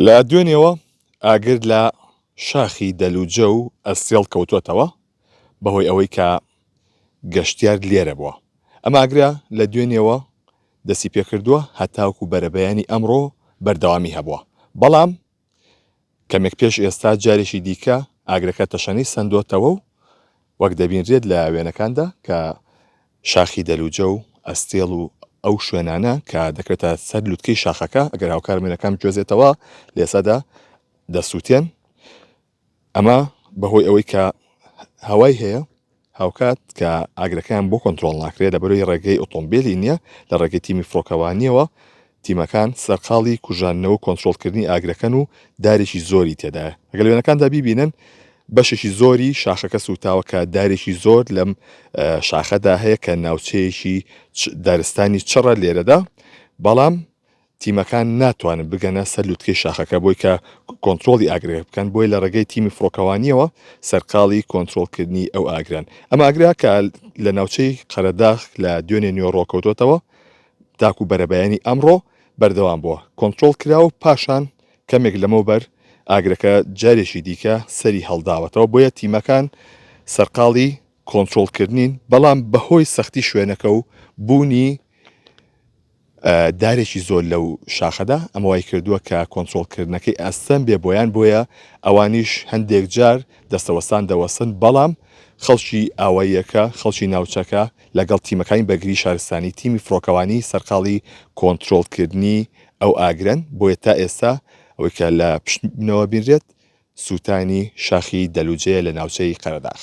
لە دوێنێوە ئاگر لە شاخی دەلوجە و ئەستێڵ کەوتووەتەوە بەهۆی ئەوەی کە گەشتیار لێرە بووە. ئەم ئاگرە لە دوێنێوە دەستی پێکردووە هەتاوکو بەرەبەیانی ئەمڕۆ بەردەوامی هەبووە، بەڵام کەمێک پێش ئێستا جارێکی دیکە ئاگرەکە تەشەنەی سەندۆتەوە و وەک دەبینرێت لە وێنەکاندا کە شاخی دەلوجە و ئەستێڵ و ئەو شوێنانە کە دەکرێتە سەر لوتکەی شاخەکە ئەگەر هاوکار مێنەکان بگوێزێتەوە لێسەدا دەسووتێن ئەمە بەهۆی ئەوەی کە هەوای هەیە هاوکات کە ئاگرەکەیان بۆ کۆنتترۆل ناکرێت لە بەروی ڕێگەی ئۆتۆمبیلی نییە لە ڕێگەی تیمی فڕۆکەوانیەوە تیمەکان سەرقاڵی کوژاندنەوە و کۆنترۆڵکردنی ئاگرەکەن و دارێکی زۆری تێدایە. ئەگەر لە وێنەکاندا بیبینن بەشێکی زۆری شاخەکە سووتاوە کە دارێکی زۆر لەم شاخەدا هەیە کە ناوچەیەکی دارستانی چڕە لێرەدا بەڵام تیمەکان ناتوانن بگەنە سەر لوتکەی شاخەکە بۆی کە کۆنتترۆلی ئاگرێ بکەن بۆی لە ڕێگەی تیمی فڕۆکەوانیەوە سەرقاڵی کۆنتترۆلکردنی ئەو ئاگران ئەم ئاگرا کە لە ناوچەی قەرەداخ لە دوێنێ نوێ ڕۆکەوتۆتەوە تاکو بەرەبەیانی ئەمڕۆ بەردەوام بووە کۆنترۆڵ کرا و پاشان کەمێک لەمەوبەر ئاگرەکە جارێکی دیکە سەری هەڵداوەتەوە، بۆیە تیمەکان سەرقاڵی کۆنترۆڵ کردنین، بەڵام بەهۆی سەختی شوێنەکە و بوونی دارێکی زۆر لەو شاخەدا ئەمە وای کردووە کە کۆنترۆڵ کردنەکەی ئاستەم بێ بۆیان بۆیە ئەوانیش هەندێک جار دەستەوەستان دەوەسن بەڵام خەڵکی ئاواییەکە خەڵکی ناوچەکە لەگەڵ تیمەکانی بەرگری شارستانی تیمی فڕۆکەوانی سەرقاڵی کۆنترۆڵکردنی ئەو ئاگرەن، بۆیە تا ئێستا ئەوەی کە لە پشت بنەوە بینرێت سووتانی شاخی دەلوجەیە لە ناوچەی قەرەداخ.